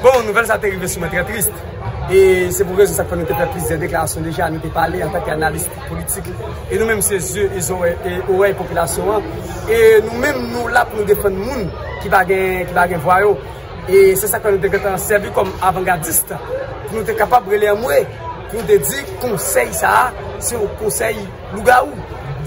Bon, nouvèl sa te rive sou mwen trè tris. E se pou rezon sa k fè nou te fè plizyè deklarasyon deja, nou te pale antan ke analis politik. E nou menm se zye e zore e orèy popilasyon an. E nou menm nou la pou nou defann moun ki pa gen vwa yo. E se sa k fè nou te gentan sèvi kòm avangadist. Pou nou te kapab rele anmwe, pou nou te di konsèy sa a, se yon konsèy lougawou.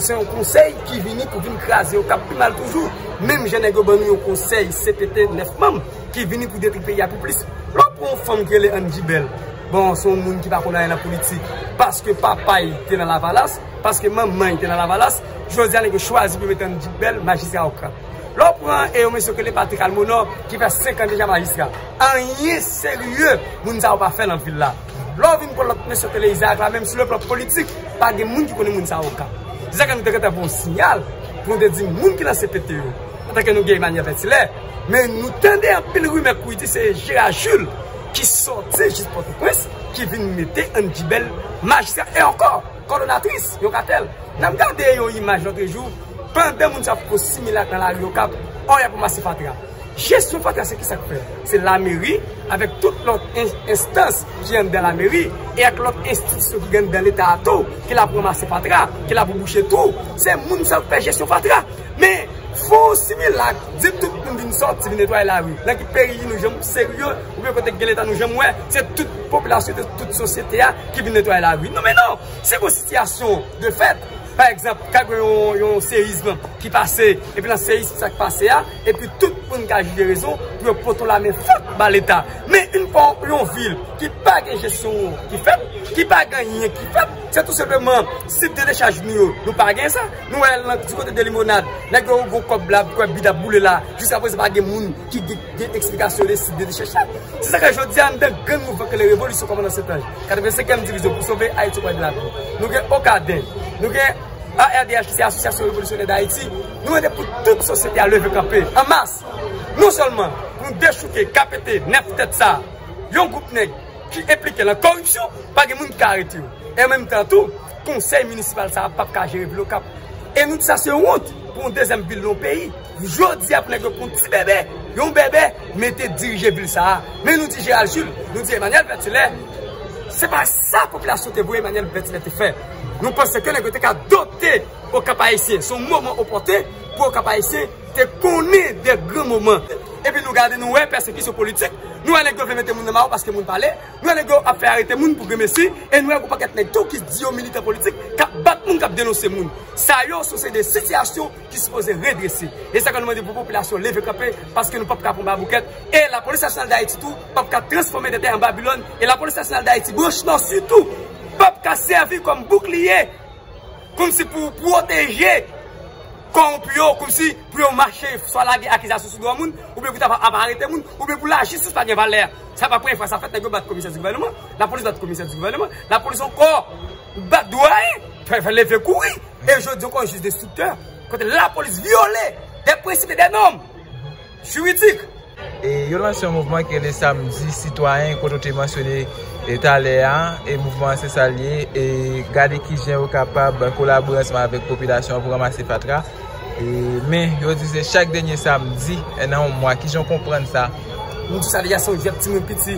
Se yon konsèy ki vini pou vin kraze yo, k ap pi mal toujou. Menm jan nèg yo ban nou yon konsèy CPT 9 manm. Ki vini pou detri peyi a pi plis. Lè w pran yon fanm ki rele Angie Bell, bon se yon moun ki pa konn anyen nan politik, paske papa l te nan lavalas, paske manman l te nan lavalas, jodi a nèg yo chwazi pou yo mete Angie Bell majistra okap. Lè w pran yon mesye ki rele Patrick Almonor ki fè 5 an deja majistra, anyen serye moun sa yo pa fè nan vil la. Lè w vin pran lòt mesye ki rele Isaac la menm sou le plan politik, pa gen moun ki konnen moun sa yo okap. Se sa k fè nou te gentan voye yon siyal pou nou te di moun ki nan cpt yo, Antanke nou gen Emmanuel Vertilè, men nou tande anpil rimè kouri di se Gérard Jules ki sòti jis Pòtoprens ki vin mete ann dibèl majistra e ankò kòdonatris yon katèl. N ap gade yon imaj lòtrejou, pandan moun sa yo fouko similak nan lari Okap, ò y ap ranmase fatra. Jesyon fatra se kisa k fè? Se lameri avèk tout lòt enstans ki anndan lameri e ak lòt enstitisyon ki gen anndan Leta a tou ki la pou ranmase fatra, ki la pou bouche twou. Se moun sa yo k fè jesyon fatra. Men, fò ou similak, di tout moun vin sòti, vin netwaye lari. Nan ki peyi nou janm serye, oubyen kote gen leta nou janm wè, se tout popilasyon de tout sosyete a ki vin netwaye lari. Non men non! Se pou sitiyasyon de fèt, pa egzanp, ka gen yon seyizm ki pase, epi nan seyizm sa ki pase a, epi tout moun ka jije rezon pou yo pote la men fèt ba leta. Men, yn fò yon vil ki pa gen jesyon ki fèt, ki pa gen anyen ki fèt, se tou senpleman site dechaj nou yo, nou pa gen sa. Nou wè lan ti kote de limonad, nèg yo gon kòb la, kòb bida boule la, jiska prezan pa gen moun ki gen eksplikasyon de si de de chèche. Se sa k fè jodi a, andan grenn mouvman k rele revolisyon kòmandan Sentanj, 85 èm divizyon pou sove Ayiti okonpè de lavi. Nou gen Okaden, nou gen ARDH ki se Asosyasyon Revolisyonè Dayiti, nou mande pou tout sosyete a leve kanpe an mas. Non sèlman pou nou dechouke kapete 9 tèt sa a, yon gwoup nèg ki enplike lan koripsyon, pa gen moun ki ka arete yo. E an menm tan tou. Konsèy minisipal sa a pap ka jere vil okap e nou di sa se wont pou yon dezyèm vil nan yon peyi jodi a pou nèg yo pran yon ti bebe yon bebe mete dirije vil sa a men nou di Gérald Jules nou di Emmanuel Vertulet se pa sa popilasyon te vwe Emmanuel Vertulet te fè nou panse ke nèg yo te ka dote okap ayisyen se yon moman opote pou okap ayisyen te konnen de gran moman epi nou gade nou wè pèsekisyon politik nou wè nèg yo vle mete moun nan maron paske moun pale. Lè nèg yo ap fè arete moun pou grenmesi e nou wè g'on pakèt nèg tou ki di yo militan politik k'ap bat moun, k'ap denonse moun. Sa yo se seri de sitiyasyon ki sipoze redrese. E sa fè nou mande pou popilasyon leve kanpe paske nou pap ka pran baboukèt e Lapolis Nasyonal Dayiti tou pap ka transfòme tèt li an Babilòn e Lapolis Nasyonal Dayiti branch Nò sitou pap ka sèvi kòm boukliye kòmsi pou pwoteje Kowonpi yo kòmsi pou yo mache swa lage akizasyon sou dwa moun oubyen pou ta pa ap arete moun oubyen pou lajistis pa gen valè. Sa pa premye fwa sa fèt nèg yo bat komisè di gouvèneman, lapolis bat komisè di gouvèneman, lapolis ankò bat dwayen, fè leve kouri e jodi ankò jij destriktè kote lapolis vyole dè prensip e dè nòm. juridik. E yo lanse yon mouvman ki rele Samdi Sitwayen kote w te mansyone talè a, e mouvman an se sa l ye, e gade kijan yo kapab kolabore ansanm avèk popilasyon an pou ranmase fatra. Men, yo di se chak dènye samdi nan yon mwa, kijan w konprann sa? Nou sa deja son jwèt timoun piti,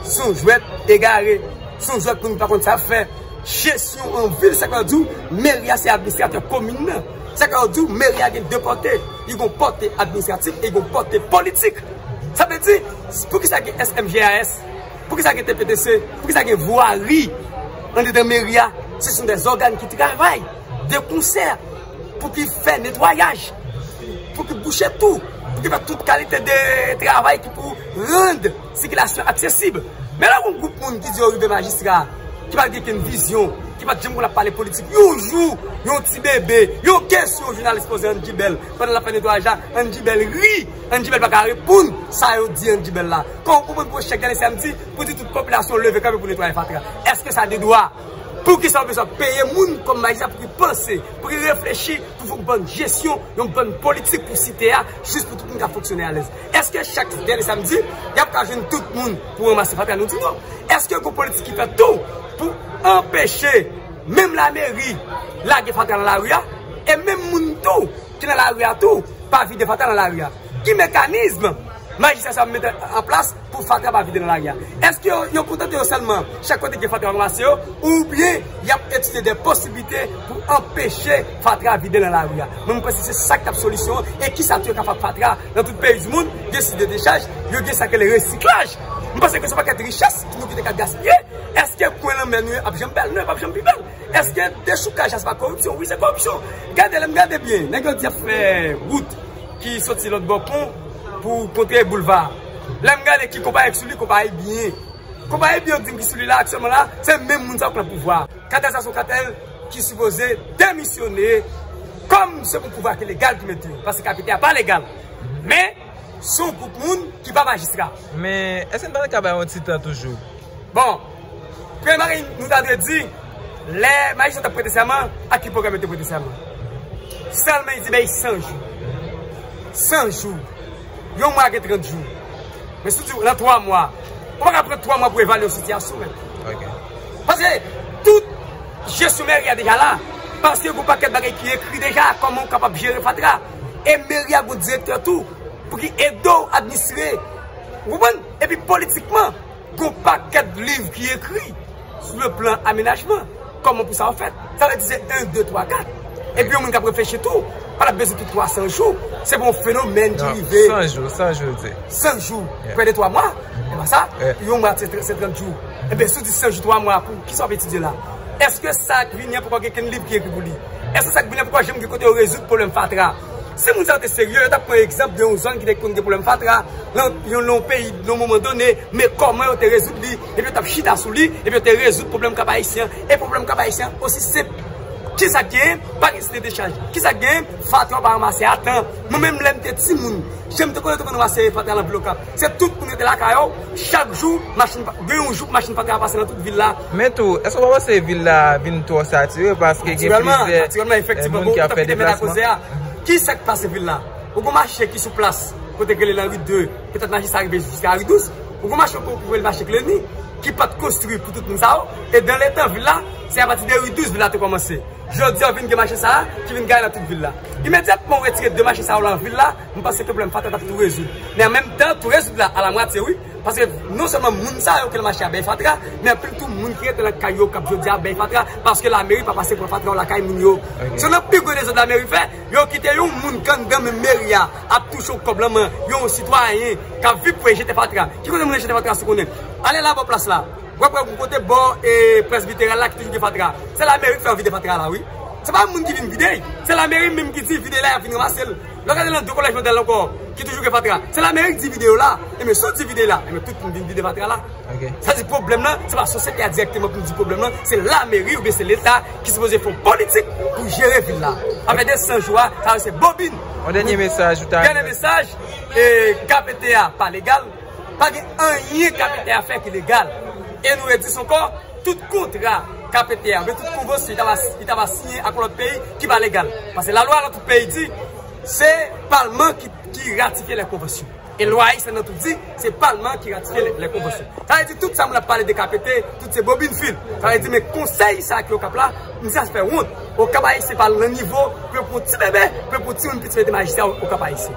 son jwèt egare, son jwèt moun pa konn sa y ap fè. Jesyon an vil Sak Lòdyou, mèri a se administratè komin nan. Sa ka yo di w meri a gen 2 pòte, li gon pòte administratif e li gon pòte politik. Sa vle di, poukisa gen SMGAS, poukisa gen TPTC, poukisa gen vwari andedan meri a, se son de ògàn ki travay de konsè pou ki fè netwayaj, pou ki bouche tou, pou ki fè tout kalite de travay ki pou rand. Sikilasyon aksesib. Men lè yon gwoup moun ki di yo rive majistra, ki pa gen okenn vizyon, ki pa t janm konn ap pale politik, yon jou, yon ti bebe, yon kesyon jounalis poze Andy Bell pandan l ap fè netwayaj la, Andy Bell ri, Andy Bell pa ka reponn sa yo di Andy Bell la. Kòw konprann pou yon chèf dèlè samdi pou di tout popilasyon leve kanpe pou netwaye fatra? Èske sa de dwa? Poukisa ou bezwen peye moun kòm majistra pou ki panse, pou ki reflechi, pou fè yon bann jesyon, yon bann politik pou site a, jis pou tout moun ka fonksyone alèz? Eske chak dènye samdi, y ap ka jwenn tout moun pou ranmase fatra? Nou di non. Eske gen politik ki fèt tou pou anpeche menm lameri lage fatra nan lari a? E menm moun tou ki nan lari a tou pa vide fatra nan lari a? Ki mekanizm majistra sa mete an plas pou fatra pa vide nan lari a? Eske yo kontante yo sèlman chak kote gen fatra yo ranmase yo? Oubyen y ap etidye de posiblite pou anpeche fatra vide nan lari a? Mwen mwen panse se sa k t ap solisyon an. E kisa tou yo ka fè ak fatra? Nan tout peyi di mond, gen sit de dechaj, yo gen sa k rele resiklaj. M panse ke se yon pakèt richès nou ki te ka gaspiye. Eske kwen lanmè nou yo ap janm bèl? Non, yo pap janm pi bèl. Eske dechoukaj la se pa koripsyon? Wi, se koripsyon. Gade, lè m gade byen, nèg yo di y ap fè wout ki soti lòt bò pon pou kontre boulva a. Lè m gade ki konpayi ki sou li, konpayi byen. Konpayi biyodin ki sou li la aktyèlman la, se menm moun sa yo k nan pouvwa a. Katèl sa se yon katèl. ki sipoze demisyone kòm se pou pouvwa ki legal ki mete yo paske KPT a pa legal men se yon gwoup moun ki pa majistra. Men, èske n pa ta ka bay yon ti tan toujou? Bon, premye bagay nou ta dwe di, lè majistra t ap prete sèman, ak ki pwogram yo te prete sèman? Sèlman yo di bay 100 jou. 100 jou. Yon mwa gen 30 jou. Men si w di w lan 3 mwa, ou pa ka pran 3 mwa pou evalye yon sitiyasyon menm. Ok. Paske tout je sou mèri a deja la. Paske gou pakèt bagay ki ekri deja kòman ou kapab jere fatra. E mèri a gou direktè tou pou ki ede ou administre. Ou konprann? E pi politikman, gou pakèt liv ki ekri sou le plan amenajman. Kòman pou sa ou fèt. Sa vle di se 1, 2, 3, 4. E pi yon moun kap reflechi tou, pa lap bezwen tout 300 jou. Se pou yon fenomèn ki rive. 100 jou, 100 jou ou di. 100 jou, prè de 3 mwa. E pa sa, yon mwa se 30 jou. E ben si w di 100 jou 3 mwa pou kisa w ap etidye la? Eske sa ak Vinye poko gen kenn liv ki ekri pou li? Eske sa ak Vinye poko janm gen kote yo rezoud pwoblèm fatra? Si moun sa yo te serye, yo t ap pran egzanp de yon zòn ki te konn gen pwoblèm fatra nan yon peyi nan yon moman done, men kòman yo te rezoud li, epi yo t ap chita sou li, epi yo te rezoud pwoblèm Kap Ayisyen an. E pwoblèm Kap Ayisyen an osi senp. Kisa k genyen? Pa gen site dechaj. Kisa k genyen? Fatra yo pa ranmase a tan. Mwen menm lè m te timoun, jan m te konn yo te konn ranmase fatra lan vil Okap. Se tout moun rete lakay yo, chak jou machin pa, gen yon jou machin pa ka pase nan tout vil la. Men tou, èske w pa panse vil la vin twò satire paske gen plizyè moun ki ap fè deplasman? Natirèlman, natirèlman, efektivman, bon, ou ta kite mèt a koze a. Ki sa k pase vil la? Ou gen mache ki sou plas, kote k rele Lanri 2, petèt mache sa rive jiska Lanri 12. Ou gen mache yo ki rele mache Kleni, ki pa t konstwi pou tout moun sa yo. E dan le tan vil la, se apati de Ri 12 vil la te kòmanse. Jodi a, ou vin gen mache sa a ki vin gaye nan tout vil la. Imedyatman ou retire de mache sa yo nan vil la, M panse pwoblèm Fatra t ap tou rezoud. Men an menm tan, tou rezoud la alamwatye wi. Paske non sèlman moun sa yo ki nan mache a bay fatra, men anpil tou moun ki rete nan kay yo k ap jodi a bay fatra paske lameri pa pase pran fatra yo lakay moun yo. Se nan pi gwo dezòd lameri fè, yo kite yon moun k anndan menm meri a ap touche yon kòb lan men yon sitwayen k ap viv pou e jete fatra. Ki kote moun yo jete fatra si w konnen? Ale la bò plas la, w ap wè yon kote bò presbiteral la ki toujou gen fatra. Se lameri k fè yo vide fatra la wi. Se pa moun ki vin vide l, se lameri menm ki di vide la y ap vin ranmase l. Lè w gade nan 2 kolèj modèl ankò ki toujou gen fatra, se Lamerik di vide yo la. Enben, si w di vide la, enben tout moun vin vide fatra la. Sa di pwoblèm lan, se pa sosyete a dirèkteman pou nou di pwoblèm lan, se Lameri oubyen se Leta ki sipoze fè yon politik pou jere vil la. Apre 200 jou a, sa yo se bobin. Yon dènye mesaj ou ta. Dènye mesaj, e kap ete a pa legal. Pa gen anyen KPT a fè ki legal. E nou redis ankò, tout kontra KPT a, oubyen tout konvansyon li ta va siyen ak yon lòt peyi ki pa legal. Pase lalwa nan tout peyi di, se palman ki ratifye lè konvansyon. E lwa ayisyen nan tou di, se palman ki ratifye lè konvansyon. Sa vle di tout sa moun ap pale de KPT, tout se bobin fil. Sa vle di men konsèy sa ki Okap la, m di sa se fè wont. Okap ayisyen pa nan nivo pou yo pran yon ti bebe, pou yo pran yon timoun piti mete majistra Okap ayisyen.